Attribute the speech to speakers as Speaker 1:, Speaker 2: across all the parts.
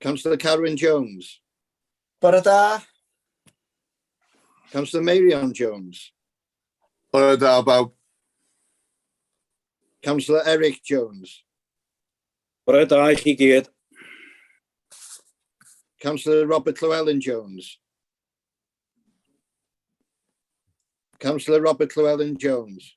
Speaker 1: Councillor Carwyn Jones. Bore da. Councillor Meirion Jones. Bore
Speaker 2: da bawb.
Speaker 1: Councillor Eric Jones.
Speaker 3: Bore da i chi gyd.
Speaker 1: Councillor Robert Llewellyn Jones. Councillor Robert Llewellyn Jones.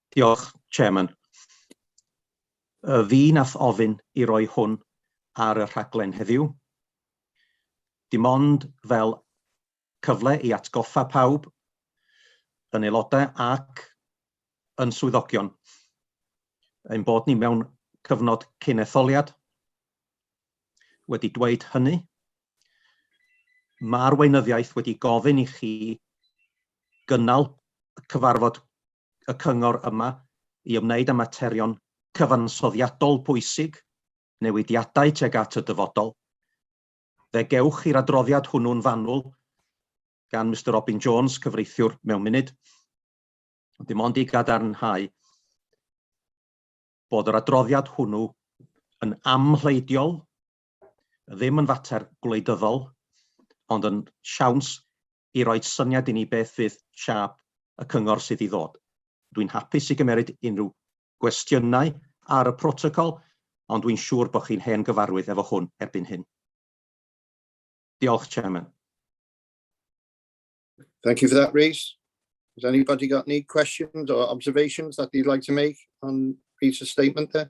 Speaker 4: Diolch, Chairman. Y fi nath ofyn i roi hwn ar y rhaglen heddiw. Dim ond fel cyfle i atgoffa pawb, yn aelodau ac yn swyddogion, ein bod ni mewn cyfnod cyn etholiad. Wedi dweud hynny, ma'r weinyddiaeth wedi gofyn i chi gynnal y cyfarfod y Cyngor yma i ymwneud â materion cyfansoddiadol pwysig, newidiadau tuag at y dyfodol. Fe gewch chi'r adroddiad hwnnw'n fanwl gan Mister Robin Jones, cyfreithiwr, mewn munud. Dim ond i gadarnhau bod yr adroddiad hwnnw yn amhleidiol, ddim yn fater gwleidyddol, ond yn siawns i roi syniad i ni beth fydd siâp y cyngor sydd i ddod. Dwi'n hapus i gymeryd unrhyw gwestiynau ar y protocol, ond dwi'n siŵr bod chi'n hen gyfarwydd efo hwn erbyn hyn. Diolch, Chairman.
Speaker 1: Thank you for that, Rhys. Has anybody got any questions or observations that you'd like to make on Rhys's statement there?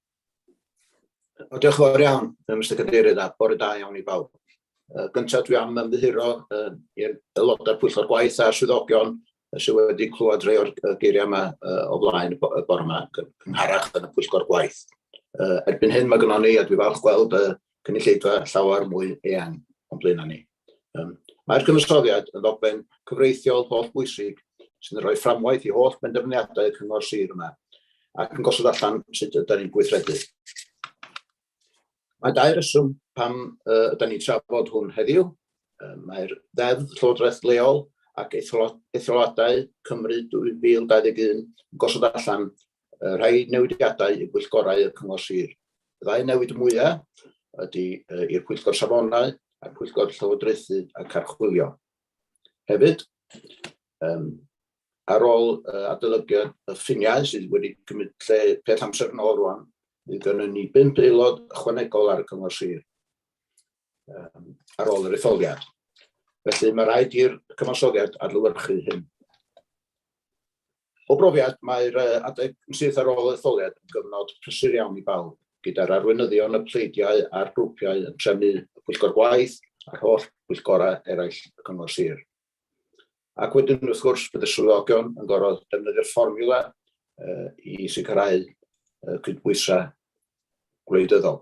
Speaker 2: O, diolch yn fawr iawn, Mister Cadeirydd, a bore da iawn i bawb. Uh, gyntaf dwi am ymddiheuro uh, i'r aelodau pwyllgor gwaith a'r swyddogion sydd wedi clywed rhai o'r geiriau yma uh, o flaen y bore yma, cynharach yn y pwyllgor gwaith. Uh, erbyn hyn mae gynnon ni, a dwi falch gweld y cynulleidfa llawer mwy eang o'n blaenau ni. Um, Mae'r cynwysoddiad yn ddogfen cyfreithiol holl bwysig sy'n rhoi fframwaith i holl benderfyniadau cyngor sir yma ac yn gosod allan sut ydym ni'n gweithredu. Mae dau reswm pam uh, ydym ni'n trafod hwn heddiw. Uh, Mae'r ddeddf Llywodraeth Leol ac Etholoadau Cymru 2021 yn gosod allan uh, rhai newidiadau i bwyllgorau y Cyngor Sir Y ddau newid mwyaf ydy uh, i'r Pwyllgor Safonau a'r Pwyllgor Llywodraethu a Carchwilio. Hefyd, um, ar ôl uh, adolygiad y ffiniau sydd wedi cymryd lle peth amser yn ôl rwan, bydd gynnu ni bimp aelod ychwanegol ar y Cyngor Sir. um, ar ôl yr etholiad. Felly mae rhaid i'r cyfansoddiad adlywyrchu hyn. O brofiad, mae'r adeg yn syth ar ôl etholiad yn gyfnod prysur iawn i bawb, gyda'r arweinyddion y pleidiau a'r grwpiau yn trefnu y pwyllgor gwaith a'r holl bwyllgorau eraill y cyngor sir. Ac wedyn, wrth gwrs, bydd y swyddogion yn gorfod defnyddio'r fformiwla uh, i sicrhau uh, cydbwysau gwleidyddol.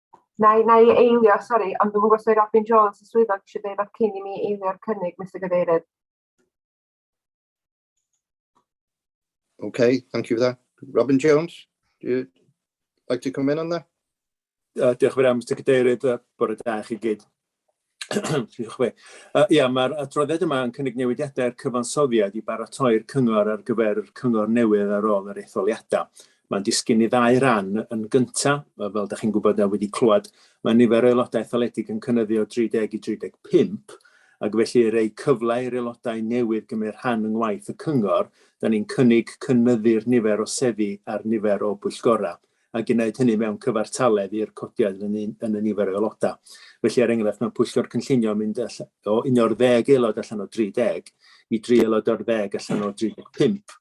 Speaker 5: Na i, na i eilio, sori, ond dwi'n gwybod sef Robin Jones y swyddog eisiau dweud rhywbeth cyn i mi eilio'r cynnig, Mr Gadeirydd.
Speaker 1: Okay, thank you for that. Robin Jones, do you like to come in on that? Uh, diolch
Speaker 6: yn fawr, Mr Cadeirydd, uh, bore da chi gyd. Diolch be. Uh, ia, mae'r adroddiad yma yn cynnig newidiadau'r cyfansoddiad i baratoi'r cyngor ar gyfer yr cyngor newydd ar ôl yr etholiadau. Mae'n disgyn i ddau ran yn gyntaf, fel da chi'n gwybod a wedi clywed, mae nifer o aelodau etholedig yn cynnyddu o 30 i 35, ac felly yr ei cyfle i'r aelodau newydd gymryd rhan yng ngwaith y cyngor, da ni'n cynnig cynnyddu'r nifer o seddi a'r nifer o bwyllgorau. a gwneud hynny mewn cyfartaledd i'r codiad yn y, yn y nifer o aelodau. Felly, er enghraifft, mewn pwyllgor cynllunio mynd o un o'r ddeg aelod allan o 30 i dri aelod o'r ddeg allan o 35.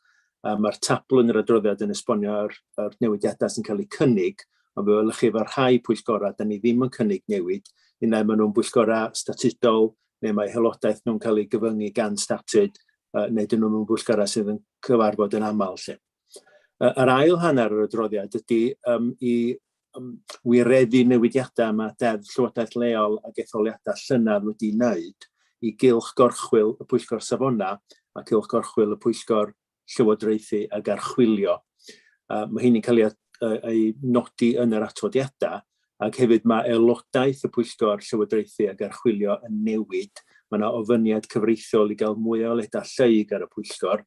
Speaker 6: A mae'r tabl yn yr adroddiad yn esbonio'r yr newidiadau sy'n cael eu cynnig, ond fe welwch chi efo rhai pwyllgorau, da ni ddim yn cynnig newid, unau maen nhw'n bwyllgorau statudol, neu mae helodaeth nhw'n cael ei gyfyngu gan statud, uh, neu dyn nhw'n bwyllgorau sydd yn cyfarfod yn aml lle. Yr ail hanner yr adroddiad ydy um, i um, wireddu newidiadau mae Deddf Llywodraeth Leol a etholiadau llynedd wedi wneud i gylch gorchwyl y Pwyllgor Safona a cylch gorchwyl y Pwyllgor Llywodraethu a Garchwilio. Uh, mae hynny'n cael ei, ei nodi yn yr atodiadau ac hefyd mae aelodaeth y Pwyllgor Llywodraethu a Garchwilio yn newid. Mae yna ofyniad cyfreithiol i gael mwy o aelodaeth lleug ar y Pwyllgor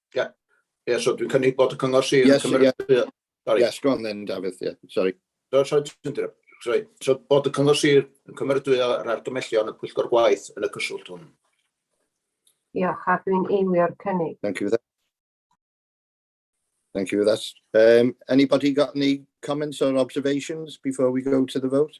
Speaker 2: Ie, ie, so dwi'n cynnig bod y cyngor sir yn cymryd...
Speaker 1: Sori. Yes,
Speaker 2: go on then,
Speaker 1: Dafydd, ie, sori. No, sori, ti'n dweud,
Speaker 2: sori. So, bod y cyngor sir yn cymeradwyo yr argymellion y pwyllgor gwaith yn y cyswllt hwn. Diolch,
Speaker 5: a dwi'n eilio'r cynnig. Thank you for that.
Speaker 1: Thank you for that. Um, anybody got any comments or observations before we go to the vote?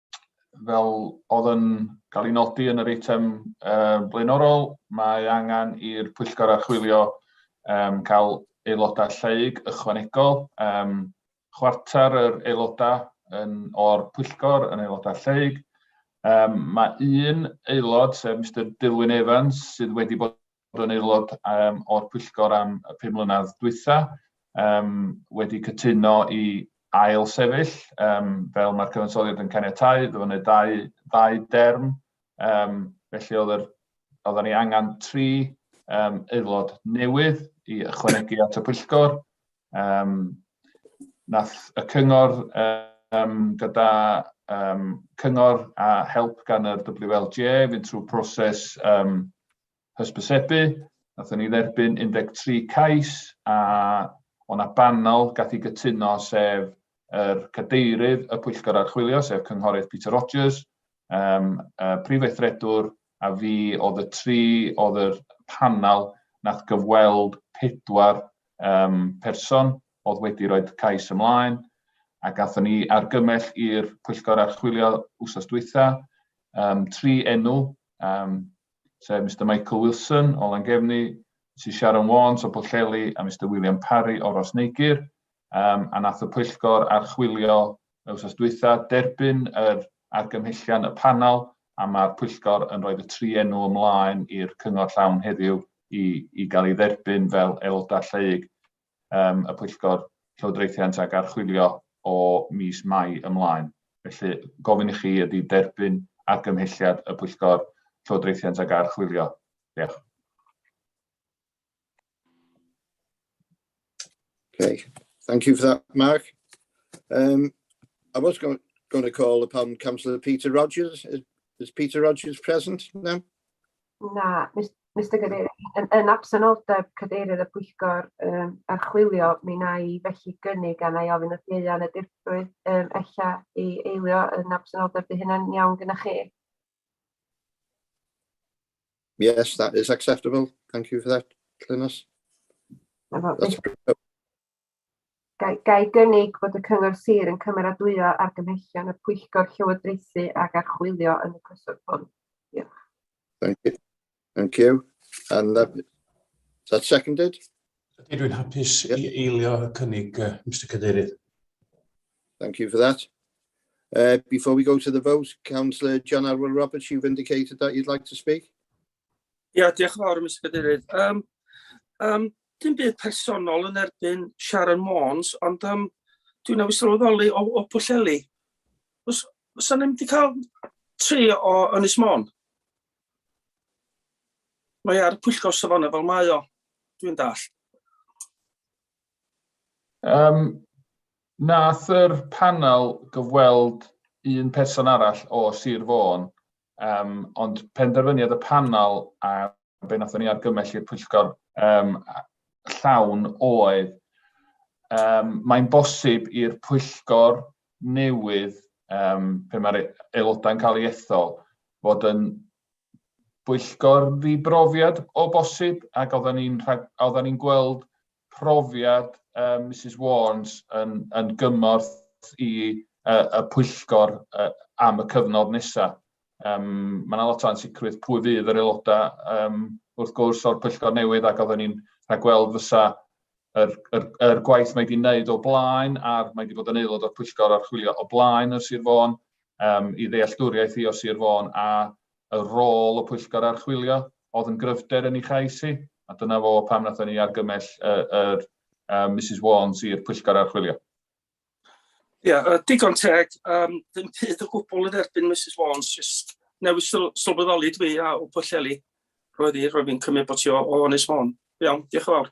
Speaker 7: fel oedd yn cael ei nodi yn yr eitem um, blaenorol, mae angen i'r pwyllgor archwilio um, cael aelodau lleig ychwanegol. Um, chwarter yr aelodau yn, o'r pwyllgor yn aelodau lleig. Um, mae un aelod, sef Mr Dilwyn Evans, sydd wedi bod yn aelod um, o'r pwyllgor am y pum mlynedd dwytha, um, wedi cytuno i ail sefyll, um, fel mae'r cyfansoddiad yn caniatau, ddo wneud dau, dau derm, um, felly oedd yr, oedden ni angen tri um, aelod newydd i ychwanegu at y pwyllgor. Um, nath y cyngor um, gyda um, cyngor a help gan yr WLGA fynd trwy proses um, hysbysebu, nathon ni dderbyn 13 cais a o' 'na banel gath i gytuno sef yr cadeirydd y pwyllgor archwilio sef Cynghorydd Peter Rogers, um, y prif weithredwr a fi oedd y tri oedd yr panel nath gyfweld pedwar um, person oedd wedi rhoi cais ymlaen a gatho ni argymell i'r pwyllgor archwilio wsos dwytha um, tri enw um, sef Mister Michael Wilson o Langefni, Misus Sharon Warnes o Pwllheli a Mister William Parry o Rosneigyr, um, a nath y pwyllgor archwilio y wsos dwytha, derbyn yr argymhellion y panel a mae'r pwyllgor yn rhoi y tri enw ymlaen i'r cyngor llawn heddiw i, i gael ei dderbyn fel aelodau lleug. y Pwyllgor Llywodraethiant ac Archwilio o mis Mai ymlaen. Felly, gofyn i chi ydy derbyn argymhelliad y Pwyllgor Llywodraethiant ac Archwilio. Diolch.
Speaker 1: Okay, thank you for that, Mark. Um, I was going, going to call upon Councillor Peter Rogers. Is, is Peter Rogers present now? Na,
Speaker 5: Mister Cadeirydd, yn yn absenoldeb Cadeirydd y Pwyllgor yym Archwilio, mi wna i felly gynnig a wna i ofyn wrth Ieuan y Dirprwy yym ella i eilio yn absenoldeb, 'di hynna'n iawn gynnoch chi?
Speaker 1: Yes, that is acceptable, thank you for that, Glynis.
Speaker 5: Gai, gai gynnig bod y Cyngor Sir yn cymeradwyo argymhellion y Pwyllgor Llywodraethu ac Archwilio yn y cyswllt hwn? Diolch. Thank you.
Speaker 1: Thank you. And that, is that seconded? Ydy, dwi'n
Speaker 8: hapus yep. i eilio y cynnig, uh, Mr Cadeirydd.
Speaker 1: Thank you for that. Uh, before we go to the vote, Councillor John Arwell Roberts, you've indicated that you'd like to speak. Ia, yeah,
Speaker 9: diolch yn fawr, Mr Cadeirydd. Um, um, dim byd personol yn erbyn Sharon Mons, ond um, dwi'n awys sylweddoli o, o Pwlleli. Os, os o'n wedi cael tri o Ynys Mon, mae ar y pwyllgor safonau fel mae o, dwi'n dall. Um,
Speaker 7: nath yr panel gyfweld un person arall o Sir Fôn Um, ond penderfyniad y panel a be wnaethon ni argymell i'r pwyllgor um, llawn oedd um, mae'n bosib i'r pwyllgor newydd um, pe mae'r aelodau'n cael ei ethol fod yn bwyllgor ddibrofiad o bosib ac oedden ni'n ni gweld profiad uh, Mrs Warnes yn, yn gymorth i uh, y pwyllgor uh, am y cyfnod nesaf. Um, mae yna lot o ansicrwydd pwy fydd yr aelodau um, wrth gwrs o'r pwyllgor newydd ac oedden ni'n rhagweld fysa yr, yr, yr gwaith mae wedi wneud o blaen a'r mae wedi bod yn aelod o'r pwyllgor archwilio o blaen yr Sir Fôn um, i ddealltwriaeth i o Sir Fôn a Y rôl y Pwyllgor Archwilio oedd yn gryfder yn ei chais hi, a dyna fo pam wnaethon ni argymell yr Misus Warnes i'r Pwyllgor Archwilio.
Speaker 9: Ie, digon teg, um, ddim byd o gwbl yn erbyn Mrs Warnes, just newid sylweddoli dwi a o Pwllheli. Roedd hi, roedd hi'n cymryd bod ti o, o Ynys Môn. Iawn, diolch yn fawr.